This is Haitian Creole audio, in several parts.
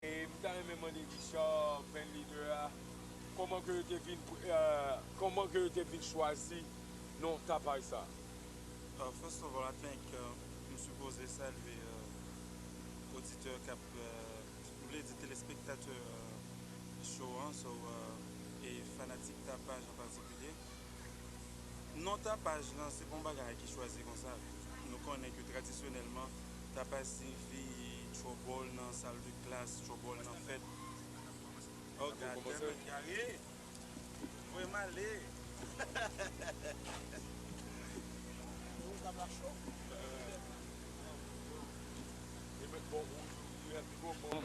M ta renmen mande Richard bandleader a koman ke yo te vin koman ke yo te vin chwazi non tapaj sa. First of all I think m sipoze salye oditè kap m vle di telespektatè show an so e fanatik tapaj an patikilye Non tapaj lan se pa yon bagay ki chwazi konsa. Nou konnen ke tradisyonèlman, tapaj siyifi tchobòl nan sal de klas, tchobòl nan fèt. Oh goddammit Gary! Ou voye m ale! Ou tap la cho? Ou met bon rouj ou, you have to go bon.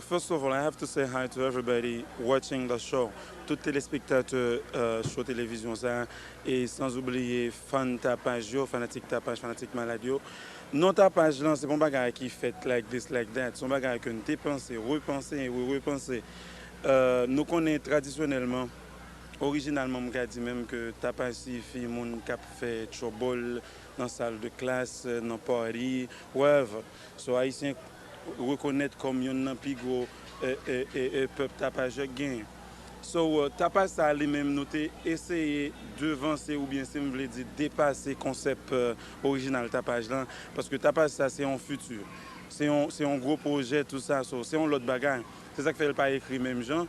First of all I have to say hi to everybody watching the show tout telespektatè show televizyon sa e sans oubliye fan tapaj yo fanatik tapaj fanatik malad yo non tapaj lan se pa yon bagay ki fèt like this like that se yon bagay ke nou te panse repanse e repanse nou konnen tradisyonèlman orijinalman m ka di menm ke tapaj siyifi moun kap fè trouble nan sal de klas nan party wherever. Sò Ayisyen rekonèt kòm yonn nan pi gwo pèp tapajè k genyen. Sò tapaj sa a li menm nou te eseye devanse oubyen si m vle di depase konsèp orijinal tapaj lan paske tapaj sa se yon fiti, se yon gwo pwojè tou sa sò se yon lòt bagay se sa k fè l pa ekri menm jan.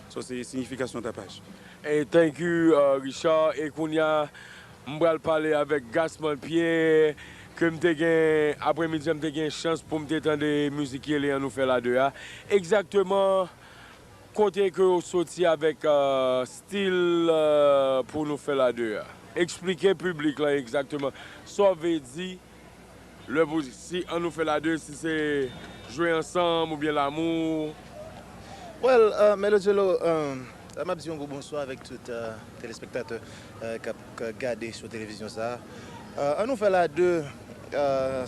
Sa se signification tapaj. Thank you Richard e kounya m pral pale avèk Gasman Pierre ke m te gen apremidi an m te gen chans poum te tande mizik ki rele an nou fèl a 2 a egzakteman kote ke ou soti avèk stil pou nou fèl a 2 a eksplike piblik lan egzakteman sa w ve di Lè pou si an nou fèl a 2 si se jwe ansanm oubyen lamou. Well Melodjelo map di yon gwo bonswa avèk tout telespektatè kap gade sou televizyon sa an nou fèl a 2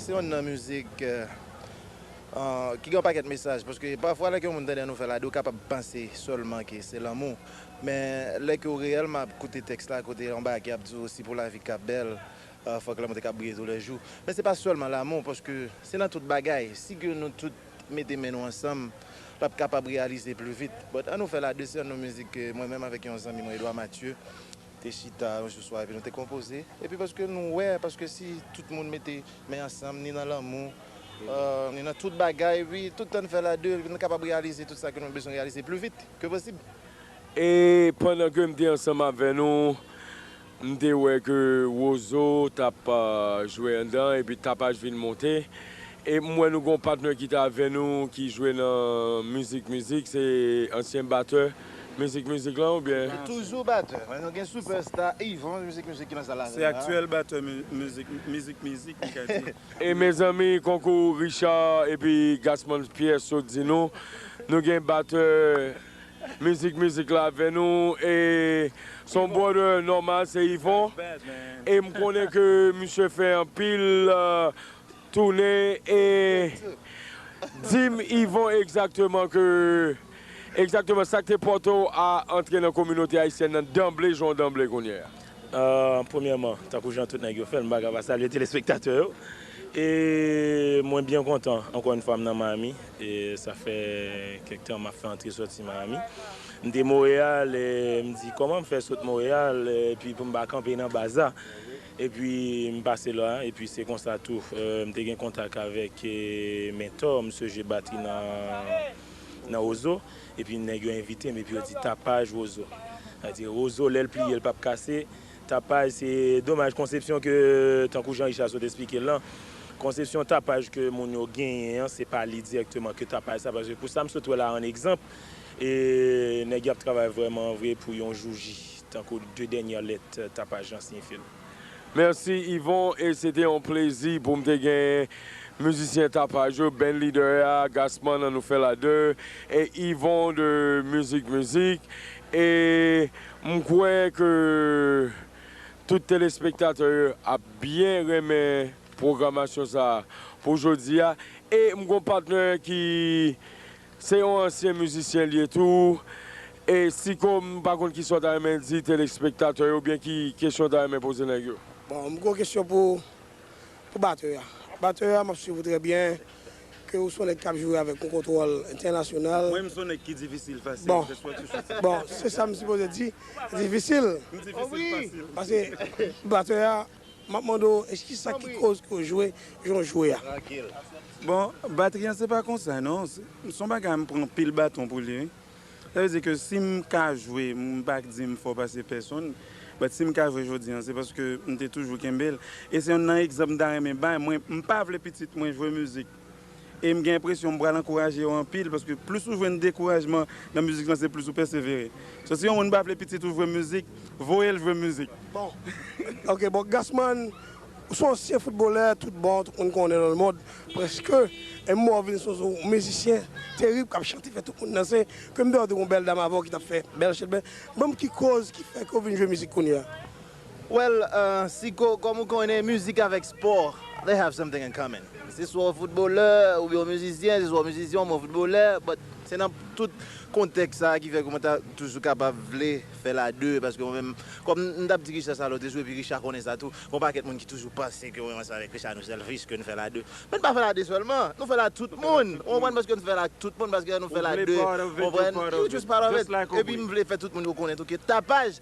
se yonn nan mizik ki gen yon pakèt mesaj paske pafwa lè ke yon moun tande an nou fèl a 2 ou kapab panse sèlman ke se lanmou men lè ke ou reyèlman ap koute tèks la kote anbake ap di ou si pou lavi ka bèl Ah fòk lanmou te ka briye tou lè jou men se pa sèlman lanmou paske se nan tout bagay si ke nou tout mete men nou ansanm lap kapab reyalize pli vit but an nou fè la 2 se yon nou mizik ke mwen menm avèk yon zanmi mwen Edouard Mathieu te chita yon jou swa epi nou te konpoze epi paske nou wè paske si tout moun mete men ansanm ni nan lanmou ah ni nan tout bagay epi tout tan nou fè la 2 nou kapab reyalize tout sa ke nou bezwen reyalize pli vit ke posib. E pandan ke m te ansanm avè nou M te wè ke Wozo t ap jwe anndan epi Tapaj vin monte. E m wè nou gen yon patnè ki te avè nou ki jwe nan Mizik Mizik, se ansyen batè Mizik Mizik lan oubyen? Se toujou batè. Men nou gen sipèsta Yvon Mizik Mizik ki nan sal avè nou la. Se aktyèl batè Mizik Mizik m ka di. E mezanmi konkou Richard epi Gasmans Pyè sot di nou, nou gen batè. Mizik mizik la avè nou e son brother nòmal se Yvon e m konnen ke misye fè anpil toune e dim Yvon egzakteman ke egzakteman sak te pòte w a antre nan kominote ayisyèn nan danble jan w danble kounyè a. Premyèman, tankou jan tout nèg yo fè l, m pa ka pa salye telespektatè yo. E mwen byen kontan ankò yon fwa m nan Miami. E sa fè kèk tan m ap fè antre soti Miami. M te Montréal e m di kòman m fè sot Montréal epi pou m pa kanpe nan baz la. Epi m pase la a. Epi se konsa tou m te gen kontak avèk Mentor, msye jwe batri nan Roseau. Epi nèg yo envite m epi yo di tapaj wozo. Sa vle di wozo lè l pliye l pap kase. Tapaj se domaj konsepsyon ke tankou jan Richard sot esplike l lan, konsepsyon tapaj ke moun yo genyen an se pa li dirèkteman ke tapaj sa paske pou sa m sot wè la an egzanp e nèg y ap travay vrèman vre pou yon jouji tankou de dènyè lèt tapaj lan siyifi l. Merci Yvon e se te yon plezi pou m te genyen mizisyen tapaj yo band leader a Gassman an nou fè l a 2 e Yvon de Music Music e m kwè ke tout telespektatè yo ap byen renmen pwogramasyon sa pou jodi a e m gon patnè ki Se yon ansyen mizisyen l ye tou. E Siko m pa konn kisa w ta renmen di telespektatè yo oubyen ki kesyon w ta renmen poze nèg yo? Bon, m gen yon kesyon pou pou batè a. Batè a, m ap swiv ou trè byen, ke ou se yon nèg k ap joure avèk yon kontwòl entènasyonal. Mwen menm se yon nèg ki difisil fasil, ke swa ki sou sèn. Bon, se sa m sipoze di, difisil? M difisil fasil. Pase batè a, Map mande w eske sa ki koz ke w jwe jan w jwe a? Bon batri an se pa konsa non, son bagay m pran pil baton pou li wi. Sa vle di ke si m ka jwe, m pa k di m fò pase pèsonn, but si m ka jwe jodi an se paske m te toujou kenbe l. E se yonn nan egzanp m ta renmen bay, mwen m pa vle pitit mwen jwe mizik. E m gen enpresyon m pral ankouraje yo anpil paske plis ou jwenn dekourajman nan mizik lan se plis ou pèsevere. So si yon moun pa vle pitit ou jwe mizik, voye l jwe mizik. Bon ok bon Gassman ou son ansyen foutbolè tout bon tout moun konnen nan lemond prèske e m wè w vin son son mizisyen terib k ap chante fè tout moun danse ke m te wè w te gen yon bèl dam avè w ki t ap fè bèl chelbè ban m ki koz ki fè ke w vin jwe mizik kounye a? Well Sicko kòm ou konnen mizik avèk spò they have something in common se swa w footbalè ou byen w mizisyen se swa w mizisyen ou byen w footbalè but se nan tout kontèks sa ki fè ke mwen ta toujou kapab vle fè la deux paske mwen menm kòm m tap di Richard sa lòt jou epi Richard konnen sa tou gon pakèt moun ki toujou panse ke mwen ansanm avèk Richard nou selfish ke nou fè la deux men nou pa fè la deux sèlman nou fè la ak tout moun ou konprann paske nou fè la ak tout moun paske lè nou fè la deux ou konprann you just part of it epi m vle fè tout moun yo konnen tou ke tapaj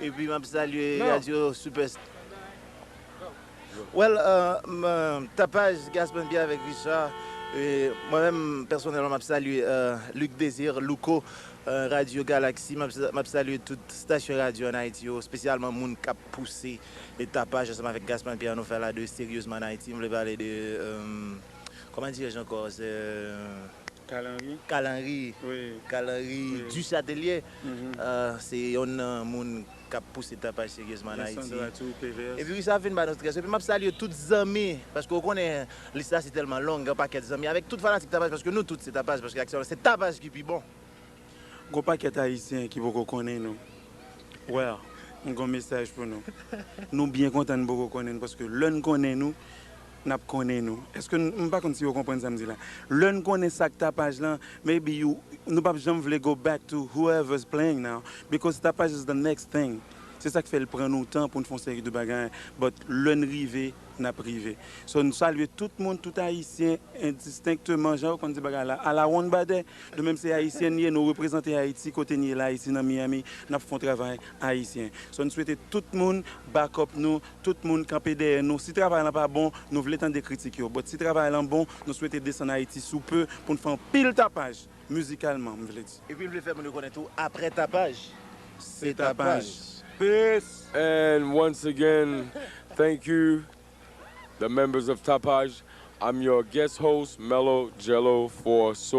epi map salye radio super well tapaj gaspen pierre avek richard mwen menm personelman map salye luc desir louco radio galaxy map salye tout station radio an ayiti yo spesyalman moun kap pouse tapaj ansanm avek gaspen pierre nou fèla de seryezman an ayiti m vle pale de kòman dirè jan kò se kalanri kalanri kalanri du chatelie. Se yonn nan moun kap pouse tapaj seryezman an Ayiti. Epi wi sa ap vin ba nou strès. Epi map salye tout zanmi paske ou konnen lis la se tèlman long gen yon pakèt zanmi avèk tout fanatik tapaj paske nou tout se tapaj paske aktyèlman se tapaj ki pi bon. Gon pakèt ayisyen ki poko konnen nou. Well m gon mesaj pou nou. Nou byen kontan n poko konnen nou paske lè n konnen nou. n ap konnen nou. Èske n, m pa konn si yo konprann sa m di la. Lè n konnen sa k tapaj lan, maybe you, nou p ap janm vle go back to whoever is playing now because tapaj is the next thing. Se sa k fè l pran nou tan pou n fè yon seri de bagay but lè n rive, n ap rive. So n salye tout moun, tout Ayisyen endistenkteman jan yo konn di bagay la alawonnbadè. Nou menm se Ayisyen n ye, nou reprezante Ayiti kote n ye la, isi nan Miami, n ap fè yon travay Ayisyen. So n swete tout moun back up nou, Tout moun kanpe dèyè nou. Si travay lan pa bon, nou vle tande kritik yo. But si travay lan bon, nou swete desann Ayiti sou peu pou n fè yon pil tapaj, mizikalman, m vle di. Epi m vle fè moun yo konnen tou, aprè tapaj, se tapaj. Peace! And once again, thank you the members of Tapaj, I'm your guest host Melo Jello for so.